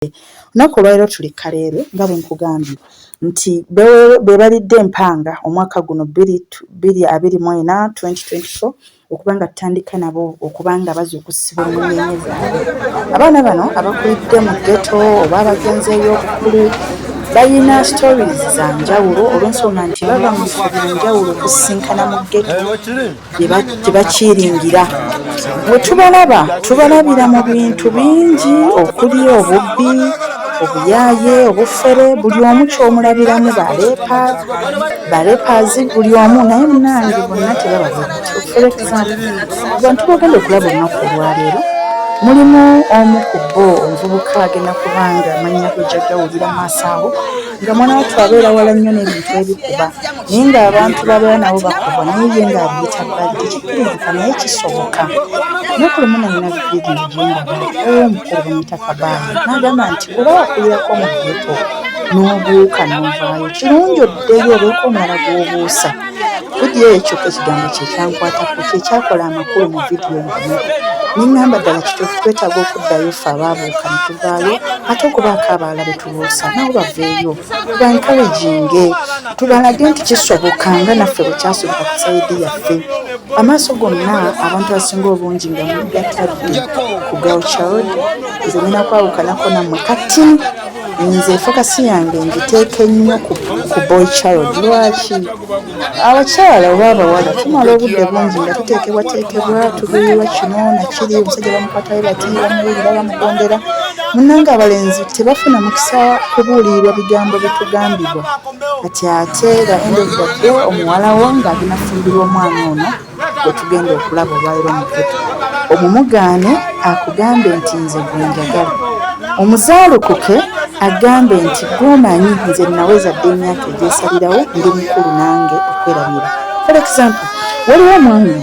bw'oyogedde. Olunaku olwaleero tuli Kaleerwe nga bwe nkugambye nti beebalidde empanga omwaka guno bbiri abiri mu ena, 2024, okuba nga tutandika nabo okuba nga bazuukusibwa mu nnyenye zaabwe. Abaana bano abakulidde mu ggeto oba abagenzi ey'obukulu balina stories za njawulo olw'ensonga nti bava mu bifo bya njawulo okusisinkana mu ggeto. gye bakiringira bwe tubalaba tubalabira mu bintu bingi okuli obubbi obuyaaye obufere buli omu kyomulabiramu balepa balepazi buli omu naye munange bonna tebababantu bagenda okulaba olunaku olwaleero mulimu omu ku bo omuvubuka agenda kubanga amannya gwe jagawulira maaso awo nga mwana wattu abeera wala nnyo n'ebintu ebikuba naye ng'abantu babeera nabo bakubwa naye ye ng'abiyita bbali tekikkirizika naye kisoboka lunaku lumu nalina vidiyo gyendaba ow'omukulu bamuyita kabaani n'agamba nti oba wakulirako mu geto n'obuuka n'ovaayo kirungi oddeyo obeeko omulala gw'obuusa vidiyo eyo kyokka ekigambo kye kyankwatako kye kyakola amakulu mu vidiyo yonna ne ŋŋamba ddala kituufu twetaaga okuddayo ffe abaabuuka ne tuvaayo ate okubaako abaala be lwosa nabo baveeyo tubankalaginge tubalage nti kisoboka nga naffe bwekyasoboka ku sayidi yaffe amaaso gonna abantu asinga obungi nga mugatadde ku gauchard nze nina kwawukanako nammwe kati nze fokasi yange ngiteeke nnyo ku boy child lwaki abakyala oba abawala tumala obudde bungi nga tuteekebwateekebwa tubirirwa kino nakiri omusajja bamukwatayo bati bamuwulira bamugondera munange abalenzi tebafuna mukisa kubuulirirwa bigambo bitugambibwa kati ate nga endovudde omuwalawo ng'aginafumbirwa omwana ono wetugenda okulaba olwaliro omuvuto omumugaane akugambe nti nze gwenjagala omuzaalukuke agambe nti gwomanyi nze naweza dde emyaka egyesalirawo ndi mukulu nange okwerabira for example waliwo omwami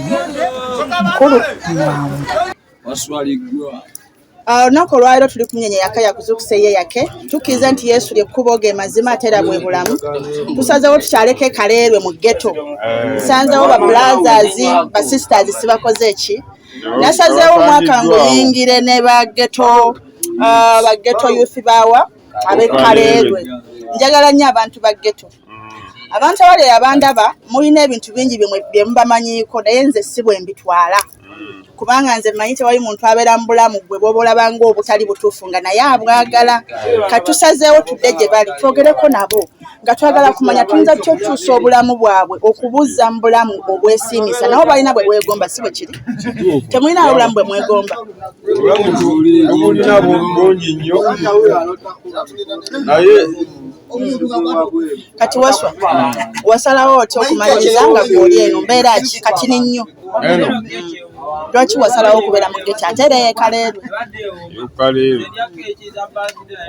mukulu mwamu Ah, olunaku olwaliro tuli kumunyenye yaka yakuzukusa eye yake tukkirize nti yesu lyekkubo ge mazima ate era bwe bulamu tusazewo tukyaleko ekaleerwe mu geto nsanzewo ba blazers ba sisters sibakoze eki nasazewo omwaka nguyingire ne ba geto ah, ba geto youth bawa abekaleerwe njagala nnyo abantu ba geto abantu abali abandaba mulina ebintu bingi byemubamanyiiko naye nze si bwe mbitwala mm. kubanga nze manyi tewali muntu abeera mu bulamu gwe bwoba olabanga obutali butuufu nga naye abwagala katusazeewo tudde gye bali twogereko nabo nga twagala kumanya tuyinza tutya okukyusa obulamu bwabwe okubuzza mu bulamu obwesiimisa nabo balina bwe bwegomba si bwe kiri temulina obulamu bwe mwegomba naye kati waswa wasalawo otya okumaliriza nga gwoli eno mbeera ki kati ninnyo Eno. Lwaki wasalawo okubeera mu geto ate era yekaleerwe? Yekaleerwe.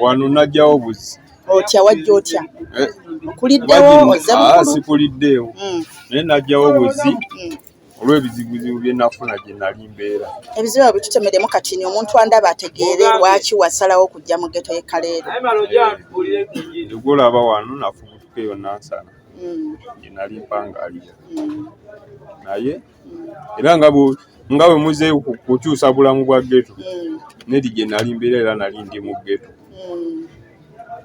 Wano najjawo buzi. Otya wajja otya? Eh. Kuliddewo ozze ah, mukulu? Sikuliddeewo. Hmm. Naye najjawo buzi. Hmm. olw'ebizibuzibu bye nafuna gye nali mbeera ebizibu ebyo bitutemeremu kati ni omuntu andaba ategeere lwaki wasalawo okujja mu geto ye kaleero egwolaba wano nafubutuka eyo nansana gyenali mm. mpangalira mm. naye era nga nga bwe muzeeyo kukyusa bulamu bwa geto mm. nedi gye nali mbeera era nali ndi mu geto mm.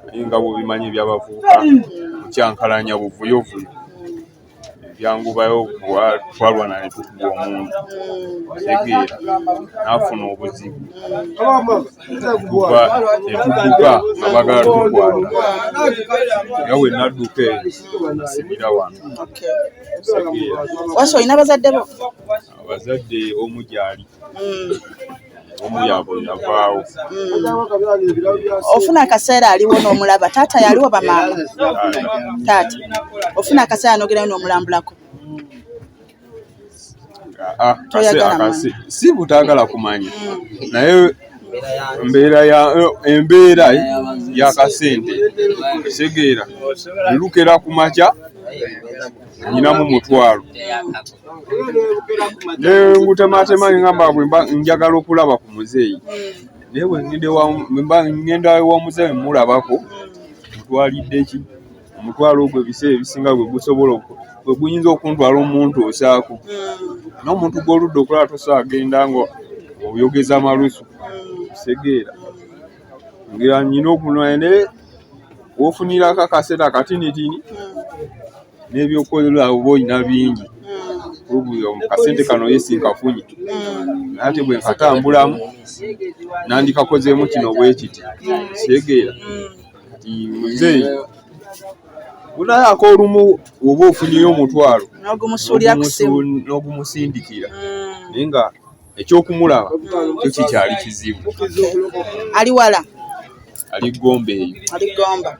naye nga bwobimanyi ebyabavubuka mm. kukyankalanya buvuyovuyo ebyangubayo twalwana ne tukuba omuntu tegeera n'afuna obuzibu tuva etudduka nga bagala tukwata nga we nadduka eyo nasimira wano wasi olina abazadde bo abazadde omu gyali hmm. omu yabwe yavaawo hmm. ofuna akaseera aliwo n'omulaba taata yaliwo bamaama taata ofuna akaseera nogerayo n'omulambulako ah, ah, si butagala kumanya mm. naye mbeera ya embeera yakasente otegeera lukera ku makya nyinamu mutwalo nengutematema ngamba bwe njagala okulaba ku muzeeyi naye bwengenda wa muzeeyi mulabako mutwalidde ki omutwalo ogwo ebiseera ebisinga gwe gusobola gwe guyinza okuntwala omuntu osaako mm. n'omuntu gw'oludda okulaba tosa agenda nga oyogeza amalusu kisegeera mm. ngira nyina okunwaya naye wofunirako akaseera katinitini mm. n'ebyokukozesa oba olina bingi kasente kano yesinkafunye ate bwe nkatambulamu nandikakozeemu kino bwekiti kisegeera kati muzeeyi munaye akolumu oba ofunyeyo omutwalo n'ogumusindikira mm. naye nga ekyokumulaba kyo kikyali kizibu ali wala ali gomba eyo ali gomba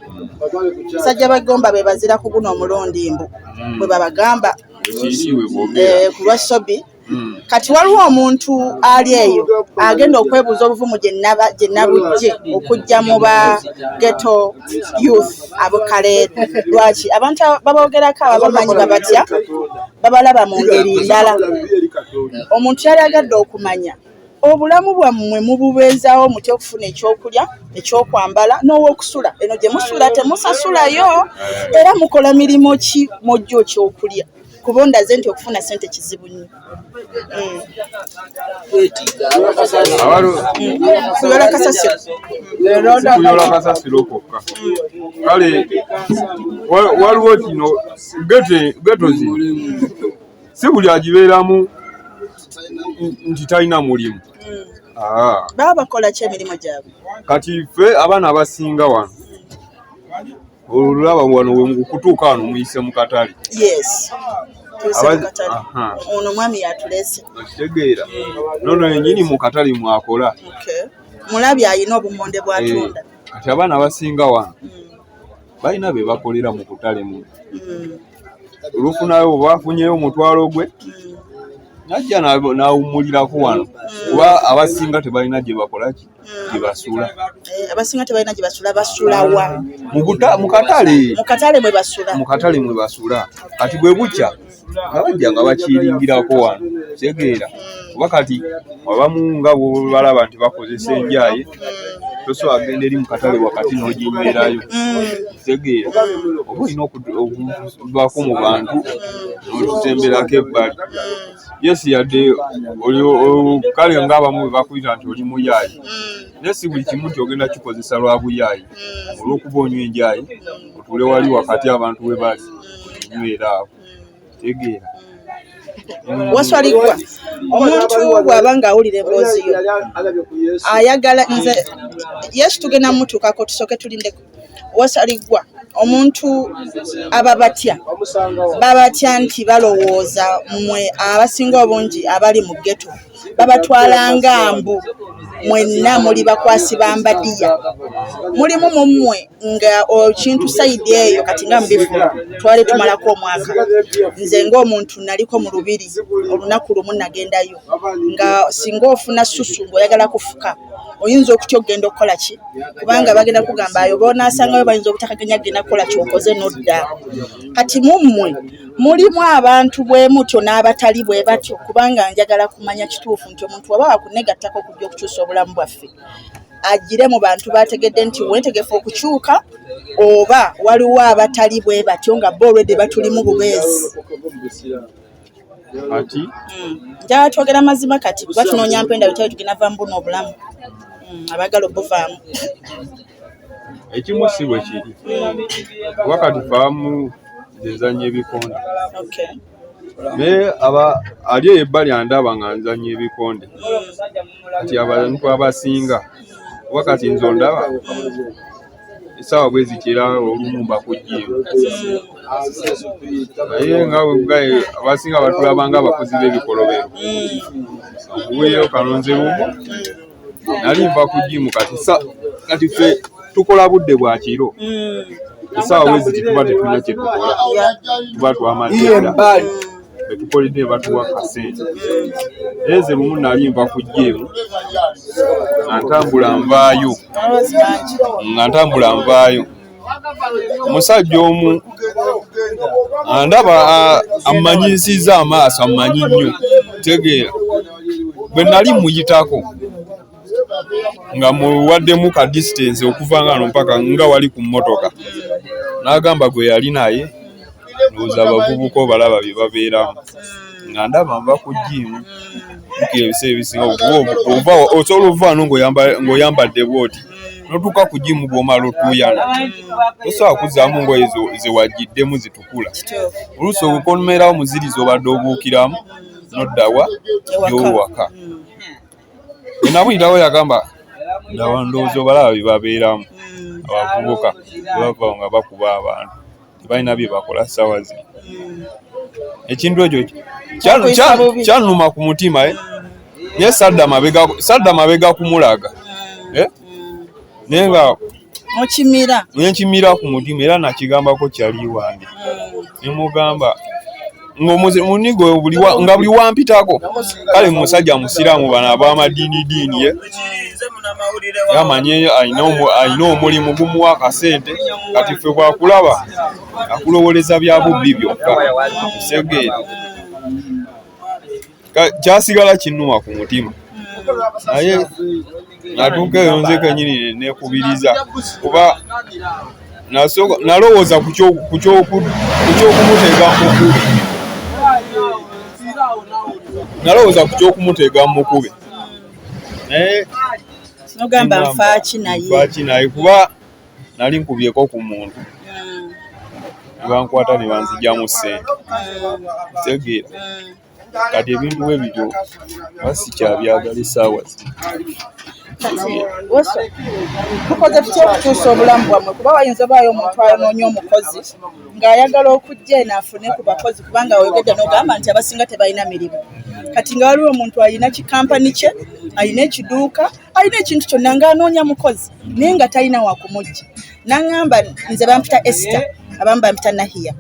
basajja ba gomba bebazira ku guno omulundi mbu mm. bwebabagamba eh, kulwa sobi hmm. kati waliwo omuntu ali eyo agenda okwebuuza obuvumu gye nabujje okujja mu ba geto youth abukaleere lwaki abantu babogerako ababamanyi babatya babalaba mu ngeri ndala omuntu yali agadde okumanya obulamu bwammwe mububeezaawo mutya okufuna ekyokulya ekyokwambala n'owokusula eno gye musula temusasulayo era mukola mirimu ki mujja okyokulya kuba ondaze nti okufuna sente kizibu nnyo kuyola kasasiro kuyola kasasiro kwokka kale waliwo kino geto zi si buli agibeeramu nti talina mulimu ah. baba bakola ki emirimu gyabwe kati ffe abaana abasinga wano olulaba wano wekutuuka wano muyise mu katale ono mwami yatulese okitegeera nono yenyini mu katale mwakola mulabi alina obumonde bwatunda eh, kati abaana abasinga wano mm. balina be bakolera mu kutale mu mm. olufunayo oba afunyeyo omutwalo gwe mm. najja nawummulirako wano kuba abasinga tebalina gye bakolaki gyebasula eh, abasinga tebalina gyebasula basulawa mukatale mukatale mwebasula mukatale mwebasula kati bwe bukya nga bajja nga bakiringirako wano kitegeera kuba kati abamu nga bwobalaba nti bakozesa enjaye tosobola agenda eri mukatale wakati n'oginyweerayo kitegeera oba olina okubaako mu bantu n'otutemberako ebbali yes yadde oli kale nga abamu bebakuyita nti oli muyaayi mm. naye si buli kimu nti ogenda kikozesa lwa buyaayi mm. olwokuba onywa enjayi otule wali wakati abantu we bali nywera awo tegeera mm. waswaligwa omuntu bwaba nga awulira emboozi yo ayagala nze yesu tugenda mutuukako tusooke tulindeko wasaliggwa omuntu aba batya babatya nti balowooza mwe abasinga obungi abali mu geto babatwala nga mbu mwenna muli bakwasi ba mbadiya mulimu mu mmwe nga okintu sayidi eyo kati nga mubifula twali tumalako omwaka nze ng'omuntu naliko mu lubiri olunaku lumu nagendayo nga singa ofuna susu ng'oyagala kufuka oyinza okutya okugenda okukola ki kubanga bagenda kugamba ayo bonaasangayo bayinza obutakaganya kugenda kukola kyokoze nodda kati mummwe mulimu abantu bwe mutyo n'abatali bwe batyo kubanga njagala kumanya kituufu nti omuntu waba wakunegattako okujja okukyusa obulamu bwaffe agire mu bantu bategedde nti wetegefu okukyuka oba waliwo abatali bwe batyo nga bo olwedde batulimu bubeezi ati mm. njagala twogera amazima kati kuba tunoonya mpenda bitabo tugenda vamu buno obulamu mm, abagala obuvaamu ekimu si bwe kiri kuba kati faamu zezanya ebikonde naye aba ali eyo ebbali andaba nga nzanya ebikonde kati abantu abasinga kuba kati nze ondaba esaawa bwe ziti era olumu mbakugyeyo naye nga webugaye abasinga batulaba nga abakozi b'ebikolobero okuweeyo kalonze lumu nali nva ku jimu kati kati ffe tukola budde bwa kiro esaawa bwe ziti tuba tetunya kyetukola tuba twamazira betukolede batuwa kasente naye nze lumu nali nva ku jemu nga ntambula nvaayo nga ntambula nvaayo omusajja omu andaba ammanyisiza amaaso ammanyi nnyo tegeera bwe nali muyitako nga muwaddemu ka distance okuva nga no mpaka nga wali ku mmotoka n'agamba gwe yali naye ndowooza abavubuka obalaba bye babeeramu nga ndaba nva ku jiimu kira ebiseera ebisinga osobola ovaano ng'oyambadde bwoti notuuka ku jiimu gw'omala otuuyana tosobola kuzzaamu ngoye zewagiddemu zitukula oluusi okonumeerawo muzirizi obadde obuukiramu noddawa gyowaka enamuyitawo yagamba ndaba ndowooza obalaba bye babeeramu abavubuka bebava nga bakuba abantu tebalina bye bakola ssaawa zino ekintu ekyo kyanuma ku mutima eh? naye sadda mabega kumulaga eh? naye nga mukimira nenkimira ku mutima era nakigambako kyali wange hmm. nemugamba ngaomunigo nga buli wampitako kale musajja musiraamu bano abamadiini diini ye yamanye alina omulimu gumuwa akasente kati ffe bwakulaba akulowoleza bya bubbi byokka segeera kyasigala kinuwa ku mutima naye natuuka eyo nze kenyini nekubiriza kuba nalowooza ku kyokumutega mukube nalowooza ku kyokumutega mukube naye nogamba nfaaki nayefaaki naye kuba nali nkubyeko ku muntu hmm. nebankwata nebanzijamu sente hmm. tegeera hmm. kati ebintu bwe bityo asi kyabyagala esaawa tukoze tutya okukyusa obulamu bwammwe kuba wayinza obaayo omuntu ayonoonya omukozi ng'ayagala okujja eno afune ku bakozi kubanga oyogedde n'ogamba nti abasinga tebalina mirimu kati nga waliwo omuntu alina kikampani kye alina ekiduuka alina ekintu kyonna ng'anoonya mukozi naye nga talina wakumujja naŋŋamba nze bampita esita abamu bampita nahiya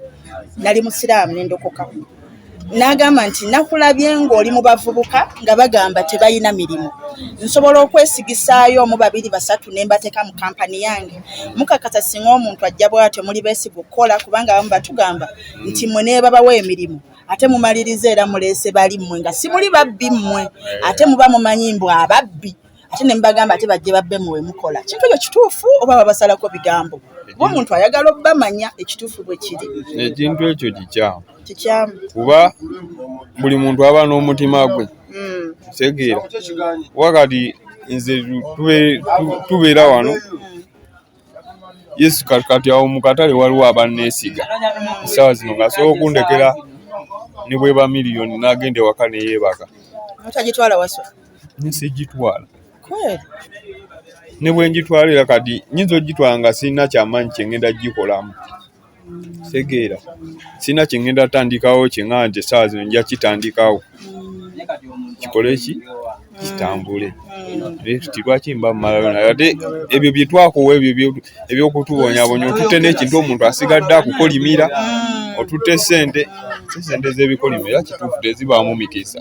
nali musiraamu nendokoka n'agamba nti nakulabye ng'oli mu bavubuka nga bagamba tebalina mirimu nsobola okwesigisaayo omu babiri basatu ne mbateeka mu kampani yange mukakasa singa omuntu ajja bwatyo muli beesiga okukola kubanga abamu batugamba nti mwe neebabawa emirimu ate mumaliriza era muleese bali mmwe nga simuli babbi mmwe ate muba mumanyi mbu ababbi ate ne mbagamba ate bajje babbe mu wemukola kintu ekyo kituufu oba babasalako bigambo kuba omuntu ayagala obamanya ekituufu bwe kiri ekintu ekyo kikyamu kikyamu kuba buli muntu aba n'omutima gwe hmm. tegeera wakati nze tubeera wano Yesu kati awo mu katale waliwo abanneesiga essaawa zino ng'asobola okundekera ne bweba miliyoni n'agenda ewaka ne yeebaka. Mutagitwala waswa? Sigitwala. Kweli? Ne bwe ngitwala era kati nnyinza okugitwala nga sirina kyamaanyi kye ngenda gikolamu. segeera sina kyengenda tandikawo kyenga nti esaawa zino nja kitandikawo kikole ki kitambule naye tuti lwaki mba mumalayo naye ate ebyo bye twakowa ebyo bye- eby'okutubonyabonya otutte n'ekintu omuntu asigadde akukolimira otutte sente si sente z'ebikolimo era kituufu tezibaamu mikisa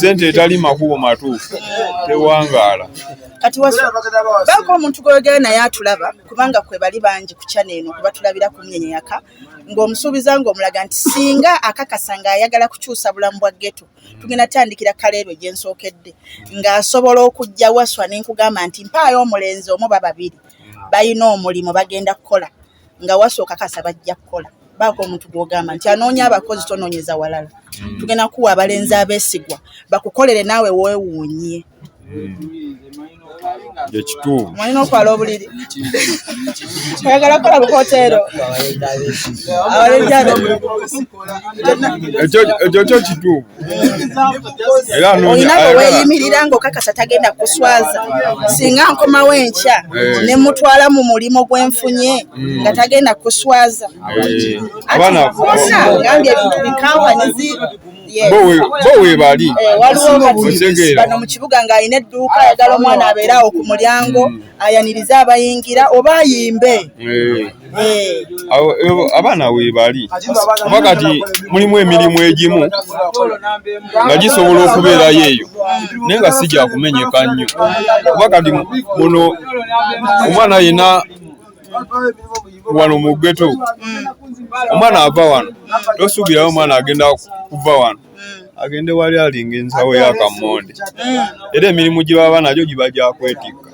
sente etali makubo matuufu tewangaala kati baako omuntu gweyogera naye atulaba kubanga kwe bali bangi ku kyana eno kubatulabira ku myenyeyaka ng'omusuubiza ng'omulaga nti singa akakasa ng'ayagala kukyusa bulamu bwa geto tugenda tandikira kaleerwe gye nsookedde ng'asobola okujja waswa ne nkugamba nti mpaayo omulenzi omu ba babiri balina omulimu bagenda kukola nga wasooka kasa bajja kukola baako omuntu gwogamba nti anoonya abakozi tonoonyeza walala hmm. tugenda kuwa abalenzi abeesigwa bakukolere naawe weewuunye ekituufu hmm. mwalina okwala obuliri oyagala kukola bukoteero ekyo kyo kituufu olina bwe weeyimirira ng'okakasa tagenda kuswaza singa nkomawo enkya eh. ne mutwala mu mulimu gwe nfunye hmm. nga tagenda kuswaza eh. atgambye ebintu bikampanizi bo webali eh, waliwobano mu kibuga ng'alina edduuka ayagala omwana abeere awo ku mulyango hmm. ayanirize abayingira oba ayimbe abaana weebali kuba kati mulimu emirimu egimu nga gisobola okubeerayo eyo naye nga si gyakumenyeka nnyo kuba kati muno omwana yena wano mu geto omwana ava wano tosuubirayo omwana agenda kuva wano mm. agende wali alinga ensawo ya kamonde mm. era emirimu gye baba nagyo giba gyakwetikka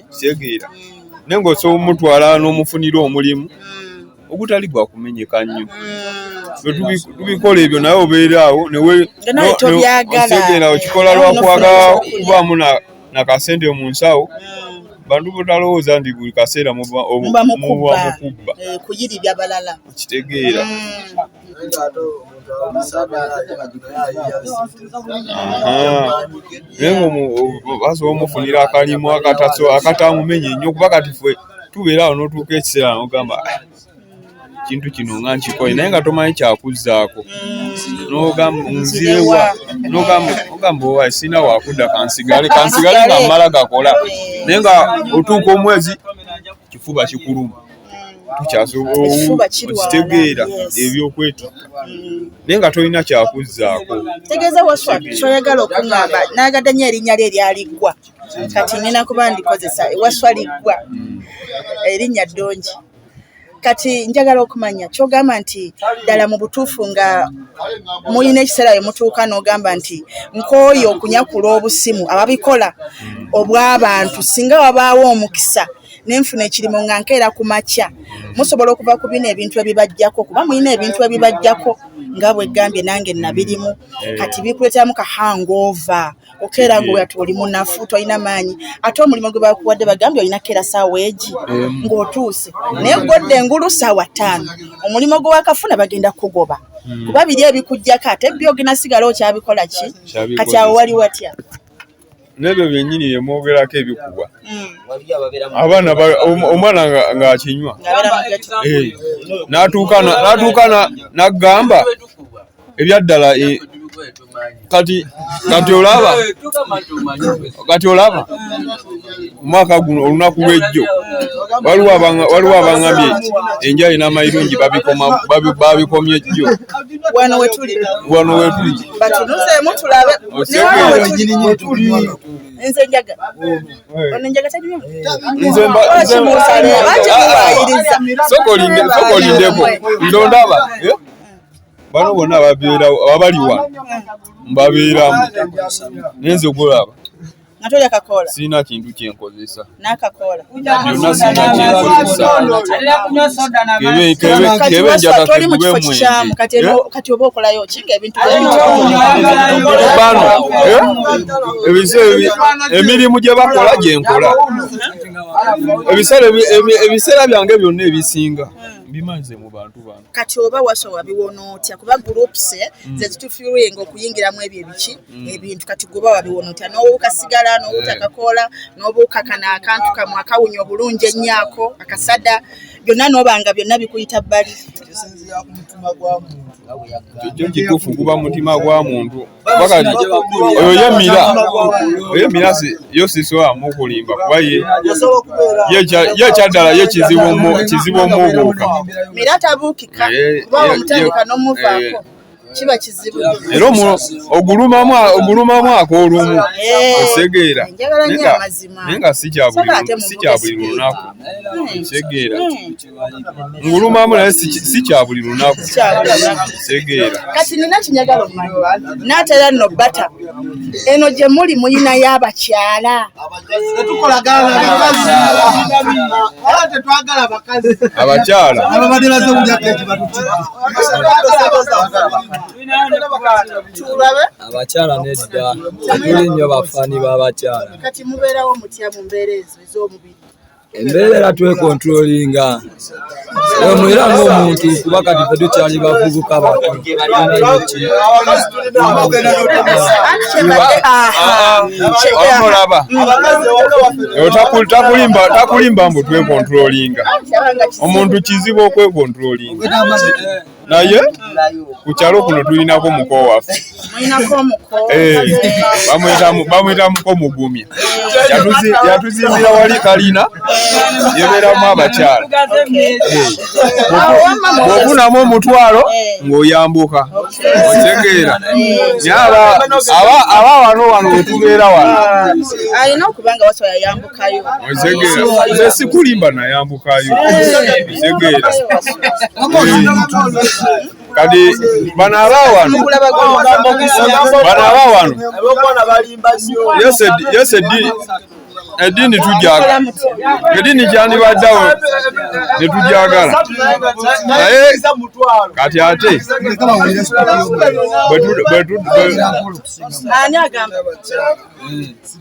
kitegeera naye ngaosobola omutwala n'omufunira omulimu ogutali gwa kumenyeka nnyo tubikola ebyo naye obeeraawo newetegeera okikola lwakwagala kubaamu nakasente mu nsawo bantu botalowooza nti buli kaseera muba mukubba eh, kitegeera mm. naye ngaomubazi omufunira akalimu akataso akatamumenye nnyo kuba kati ffe tubeera awo notuuka ekiseera nogamba ah, kintu kino nga nkikoye naye nga tomanyi kyakuzzaako nzirewa nogamba owa sirina wakudda kansigale kansigale nga mmala gakola naye nga otuuka omwezi kifuba kikuluma tukyasobola okitegeera ebyokwetikka mm. naye nga tolina kyakuzzaako tegeeza waswa kyoyagala okuŋamba nagadde nyo erinnya lye eryaliggwa kati nina kuba ndikozesa ewaswa liggwa mm. erinnya ddungi kati njagala okumanya kyogamba nti ddala mu butuufu nga mulina ekiseera we mutuuka n'ogamba nti nkooye okunyakula obusimu ababikola mm. obw'abantu singa wabaawo omukisa ne nfuna ekirimo nga nkeera ku makya musobola okuva ku bino ebintu ebibajjako kuba mulina ebintu ebibajjako nga bwegambye nange nabirimu eh. kati bikuleteramu ka hangova okeera nga oyati oli munafu tolina maanyi ate omulimu gwe bakuwadde bagambye olina keera saawa egi eh. ng'otuuse naye godde engulu saawa ttaano omulimu gwe wakafuna bagenda kugoba hmm. kuba biri ebikujjako ate byo oginasigala okyabikola ki kati awo wali watya nebyo byenyini byemwogerako ebikubwa hmm. abaana omwana ng'akinywa eh, natuuka nagamba ebyaddala eh, kati kati olaba kati olaba omwaka guno olunaku lwejjo waliwo abangambye enjali n'amayirungi babikomye jjo wano wetuli nze njaga ono njaga talimu soko olindeko ndondaba bano bonna babeerawo ababaliwa mbabeeramu nenze okulaba nga tolya kakoola sirina kintu kyenkozesa nakakoola kati oba okolayo kinga ebintu bano emirimu gye bakola gye nkola ebiseera byange byonna ebisinga mbimanze mu bantu bano kati oba wasowa biwona otya kuba groups eh, mm. zezitufiringa okuyingiramu ebyo ebiki mm. ebintu kati gwe baba biwonotya n'obuuka sigala n'obuuta eh. kakoola n'obuuka kana akantu kamwe akawunya obulungi ennyaako akasada byonna n'oba nga byonna bikuyita bbali kyo kituufu guba mutima gwa muntu oyo yemira oyemira yo sisobola mukulimba kuba ye kyaddala ye kizibu omubuuka mira tabuukika eh, kuba omutandika eh, n'omuvaako kiba kizibu era ogulumamu ogulumamu akoolumu eh, osegeera naye nga si kya buli lunaku osegeera hmm. hmm. ngulumamu naye si kya buli lunaku osegeera kati nina kinyagala omanyi naatera nno bata eno gye muli muyina y'abakyala abakyala ababadde baze bujakeji batutulabe abakyala nedda tuli nnyo bafani b'abakyala kati mubeerawo mutya mu mbeera ezo ez'omubiri embeera era twekontrolinga emu era ngaomuntu kuba kati fe tukyali bavubuka bato omulaba takulimba mbu twekontrolinga omuntu kizibu okwekontrolinga naye ku kyalo kuno tulinako muko waffe eh, bamuyita muko mugumya yatuzimbira wali kalina yebeeramu abakyala eh, bwofunamu omutwalo ng'oyambuka otegeera aba wano wano wetubeera wano nze sikulimba nayambukayo ntegeera kati bano abawano bano abawano yese eddiini eddiini tujagala eddiini kyandibaddawo netujagala naye kati ate bwetu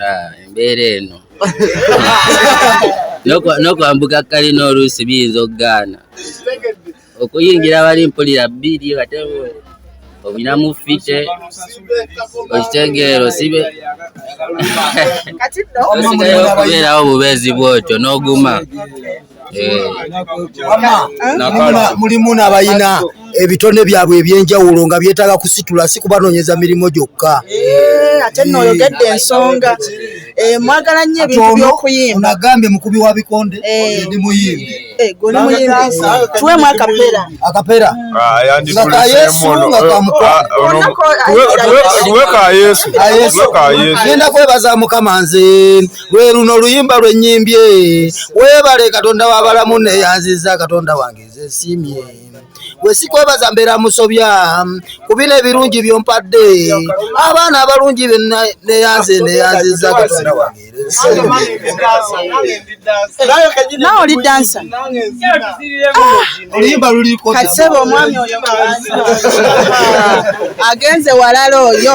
Ah, embeera eno n'okwambuka kalina oluusi biyinza okugaana okuyingira bali mpulira bbiri ate obinamu fite okitegeero sibe osigayo okubeerawo bubeezi bwotyo n'oguma mulimu nabayina ebitone byabwe ebyenjawulo nga byetaaga kusitula si kubanoonyeza mirimu gyokka eh, ate nno oyogedde ensonga eh, mwagala nnyo ebintu byokuyimba nagambye mukubi wa bikonde eh. ndi muyimbi tuwe mu akapera akapera nga yesu nga kamukwanotuwe ka yesu genda kwebaza mukama nze lwe luno oluyimba lwe nnyimbye weebale katonda w'abalamu neyanziza katonda wange nze nsiimye gwe sikwebaza mbeera musobya ku bino ebirungi byompadde abaana abalungi neyanze neyanziza katonda wange nawe oli dansa kasebo omwami oyo agenze walala oyo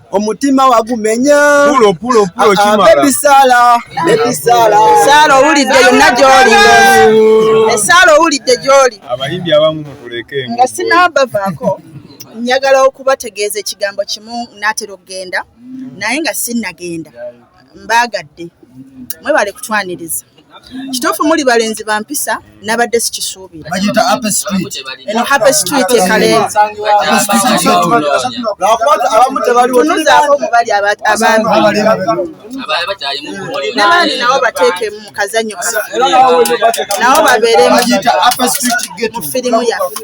omutima wagumenya bebisala bebisala sala owulidde yonna gyoli esala owulidde gyoli abayimbi abamu mutuleke nga sinabavaako njagala okubategeeza ekigambo kimu natera okugenda naye nga sinnagenda yeah, yeah. mbaagadde mwebale kutwaniriza kituufu muli balenzi ba mpisa nabadde sikisuubira eno happy street ekaleetunuzaako mubali abamibandi nabo bateeke mu kazanyo nabo babeere mu firimu yaffe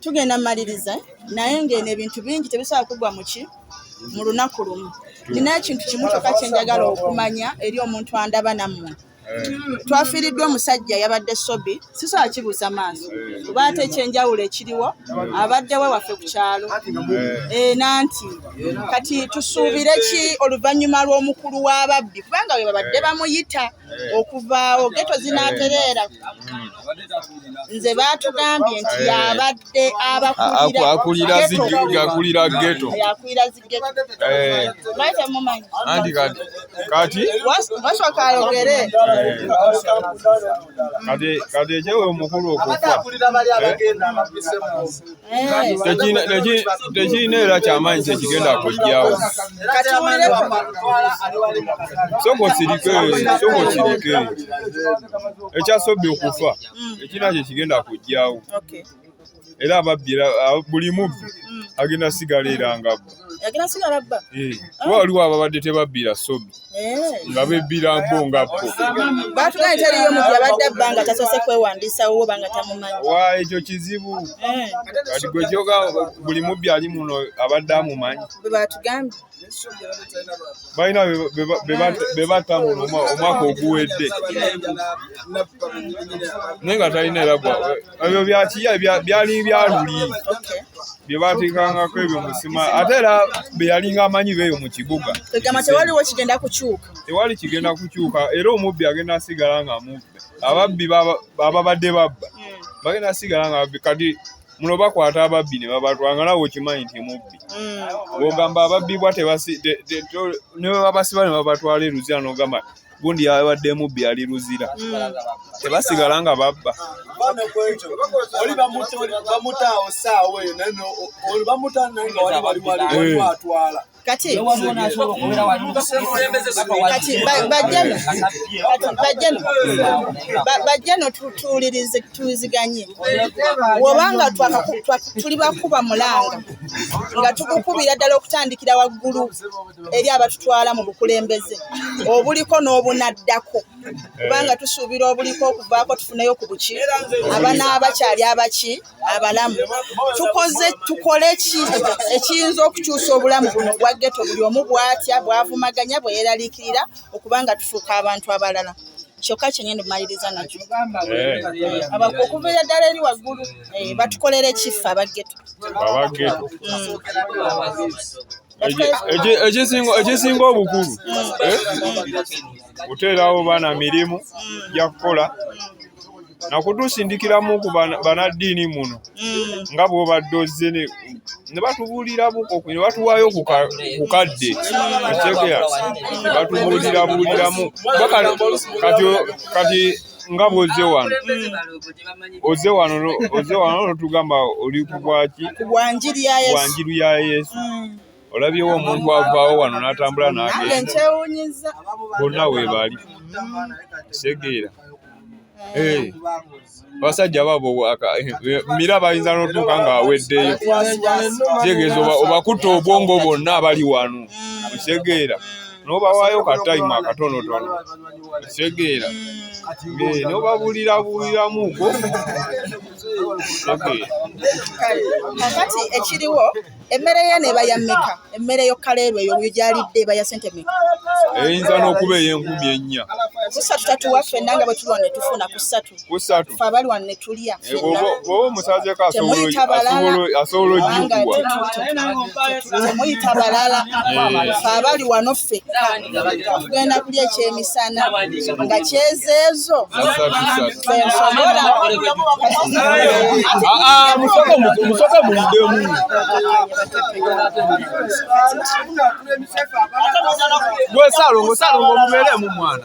tugenda maliriza naye ng'eno ebintu bingi tebisobola kugwa muki mu lunaku lumu nina ekintu kimu kyoka kyenjagala okumanya eri omuntu andaba nammwe twafiiriddwa omusajja yabadde sobi sisobola kibuusa maaso kuba ate ekyenjawulo ekiriwo abadde we waffe ku kyalo eh, nanti kati tusuubire ki oluvannyuma lw'omukulu w'ababbi kubanga we babadde bamuyita okuvaawo geto zinatereera nze batugambye nti eh. yabadde abakulira akulira geto akulira zigeto eh. anti kati kati wasooka ayogere eh. kati kati ekyewe omukulu okufa tekiina era kyamaanyi kyekigenda kujjawo soko kirike soko kirike ekyasobbi okufa ekina kye kigenda kujjawo era ababbi buli mubbi agenda sigala era ngabba yagenda sigala abba eh, kuba waliwo ababadde tebabbira sobi eh. nga bebbira mbo nga bo batugaye teriyo muntu abadde abba nga tasoose kwewandiisawo oba nga tamumanyi wa ekyo kizibu eh. kati gwe kyoga buli mubbi ali muno abadde amumanyi bwe batugambye balina bebatta muno omwaka oguwedde naye nga talina era ebyo byakiya byali byaluli bye baateekangako ebyo musima ate era be yalinga amanyi beeyo mu kibuga egamba tewaliwo kigenda kukyuka tewali kigenda kukyuka era omubbi agenda asigala nga mubbi ababbi ababadde babba hmm. bagenda asigala nga babbi kati muno bakwata ababbi ne babatwanga nawe okimanyi nti mubbi mm. ogamba ababbibwa ne bwe babasiba ne babatwala eruzira n'ogamba gundi yabadde mubbi ali luzira mm. tebasigala nga babba kati bajjano tuwulirize tuwiziganye wobanga tuli bakuba mulanga nga tukukubira ddala okutandikira waggulu eri abatutwala mu bukulembeze obuliko n'obunaddako kubanga tusuubira obuliko okuvaako tufuneyo ku buki abana abakyali abaki abalamu tukoze tukole ki ekiyinza okukyusa obulamu buno obwa geto buli omu bwatya bwavumaganya bweyeraliikirira okuba nga tufuuka abantu abalala kyokka kyenyini maliriza nakyo eh. okuviira ddala eri waggulu eh, batukolera ekiffe abageto mm. ekisinga obukulu eh? kuteerawo baana mirimu gyakukola nakutusindikiramu ku banaddiini muno mm. nga bwobadde ozze ne batubuulira buko ne batuwaayo ku kadde ategea ne batubuulira buuliramu kati nga bw'ozze wano ozze wano ozze wano n'otugamba oli ku bwaki ku bwa njiri ya Yesu bwa njiri ya Yesu olabyewo omuntu avaawo wano n'atambula n'agenda nkyewuunyizza bonna we bali segeera abasajja babo mira bayinza n'otuuka ng'aweddeyo kitegeeza obakutta obwongo bonna abali wano osegeera n'obawaayo ka tayimu akatonotono Segeera. Eh, no babulira bulira muko. Segeera. Kakati ekiriwo emmere ye neba ya meka emmere yo kaleerwe yo yalidde eba ya sente meka. Eyinza n'okuba ey'enkumi ennya. Kusatu tatuwa ffenna nga bwe tulwa ne tufuna kusatu. kusatu fe abali wano ne tulya bw'oba omusazeeko asobola ojjukubwa temuyita balala fe abali wano ffekka tugenda kulya ekyemisana nga kyezeezo fensobola musoko muyiddemu gwe salongo salongo mubeeremu mwana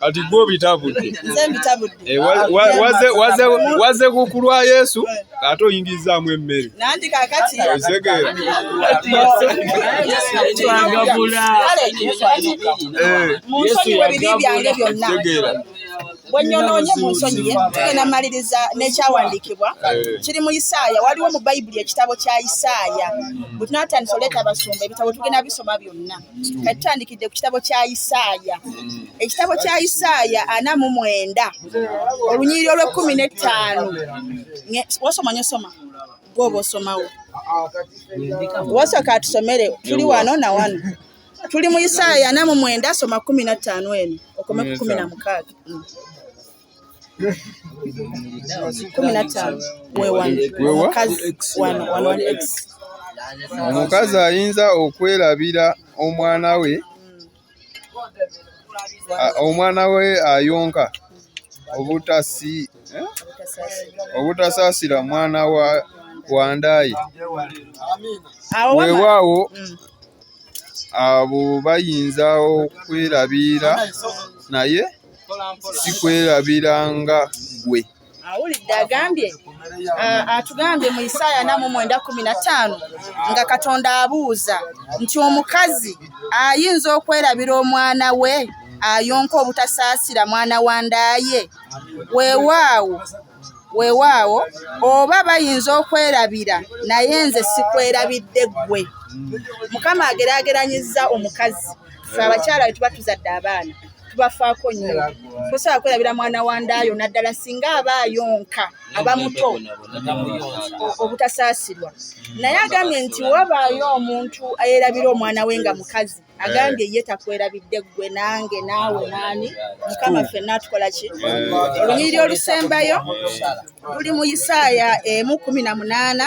kati gwe obitabudde eh, waze ku kulwa yesu ate oyingirizaamu emmere otegeera bwenyonoonye mu nsonyi ye tugenda maliriza n'ekyawandiikibwa eh. kiri mu isaaya waliwo mu bayibuli ekitabo kya isaaya bwe tunatandisa oleeta abasumba ebitabo tugenda bisoma byonna kati tandikidde ku kitabo kya isaaya mm. ekitabo kya isaaya ana mu mwenda olunyiriri olw'ekkumi n'ettaano wasoma nyo soma gwoba osomawo wasooka atusomere tuli wano na wano tuli mu isaaya ana mu mwenda soma kumi na ttaano eno okome ku kumi na mukaaga mm. kumi na ttaano omukazi ayinza okwerabira omwana we omwana we ayonka obutasi eh? obutasaasira mwana wa wandaayi weewaawo mm. abo bayinza okwerabira naye sikwerabira nga gwe awulidde agambye atugambye mu isaaya namu mwenda kumi na ttaano nga katonda abuuza nti omukazi ayinza okwerabira omwana we ayonka obutasaasira mwana wa ndaaye weewaawo weewaawo oba bayinza okwerabira naye nze sikwerabidde ggwe mukama ageraageranyizza omukazi fe abakyala be tuba tuzadde abaana tubafaako nnyo tosobola kwerabira mwana wa ndaayo naddala singa aba ayonka aba muto obutasaasirwa naye agambye nti wabaayo omuntu ayerabira omwana we nga mukazi agambye ye takwerabidde ggwe nange naawe naani mukama ffenna atukola ki olunyiriri olusembayo luli mu isaaya emu kumi na munaana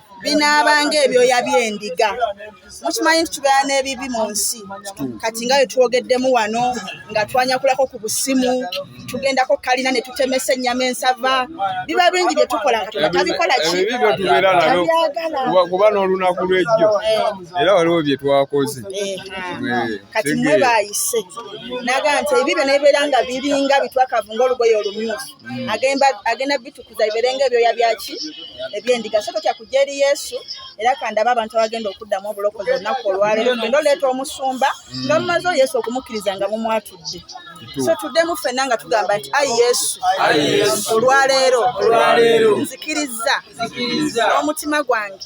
binaabanga ebyoya by'endiga mukimanyi nti tubeera n'ebibi mu nsi kati nga wetwogeddemu wano nga twanyakulako ku busimu tugendako kalina ne tutemesa ennyama ensava biba bingi bye tukola katonda tabikola kikuba n'olunaku lwejjo eh. era waliwo bye twakoze eh, eh, kati mwe bayise naga nti ebibyo nebibeera nga biringa bitwakavu ngaolugoye olumyufu mm. agenda agenda bitukuza bibeere ng'ebyoya byaki ebyendiga so totya kujja eri yesu era kandaba abantu abagenda okuddamu obulokozi olunaku olwaleero tugenda oleeta omusumba mm. nga mumazeho yesu okumukkiriza nga mumwatudde so tuddemu ffenna nga tugamba nti ayi yesu olwaleero nzikirizza n'omutima gwange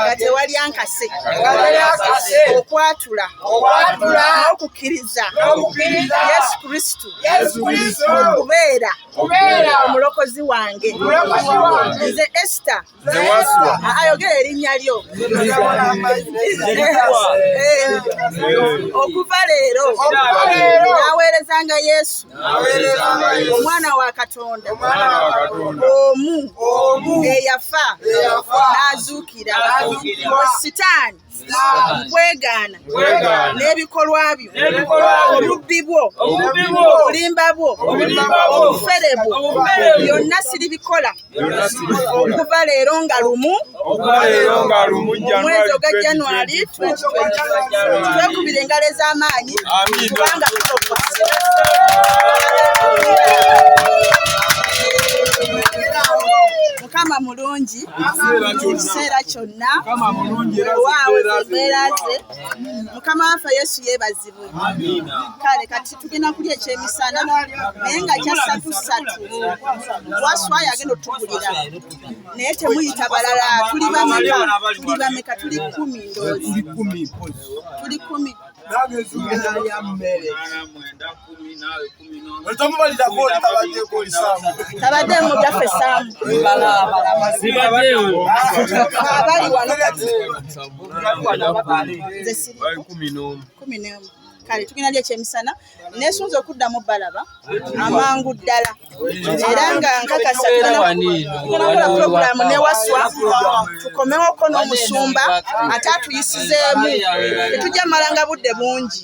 nga tewali ankase okwatula n'okukkiriza yesu kristo yesu kristo kubeera omulokozi wange nze esita ayogera erinnya lyo okuva leero naweerezanga yesu omwana wa katonda omu eyafa n'azuukira sitaani kwegaana n'ebikolwa byo obubbi bwo obulimba bwo obufere bwo byonna siribikola okuva leero nga lumu omwezi oga januari twekubira engalo ez'amaanyi kubanga tulokoa mukama mulungi ekiseera kyonna wewaawo embeera ze mukama waffe yesu yebazibwe kale kati tugenda kulya ekyemisana naye nga kyasatu satu waswayo agenda otugulira naye temuyita balala tuli bameka tuli bameka tuli kumi ndoozi tuli kumi tabadde mu byaffe saamu abali wano kale tugenda lyo ekyemisana nesunza okuddamu balaba amangu ddala era nga nkakasa tunakola pulogulaamu newaswa tukomewoko n'omusumba ate atuyisizeemu tetujja malanga budde bungi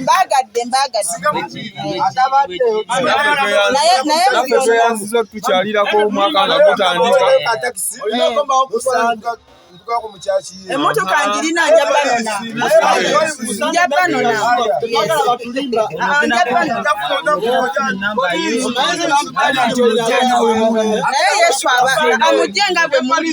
mbagadde mbagadde tukyalirako omwaka nga gutandika emotoka njirina njabanona njabanona naye yesu amugye nga bwe muli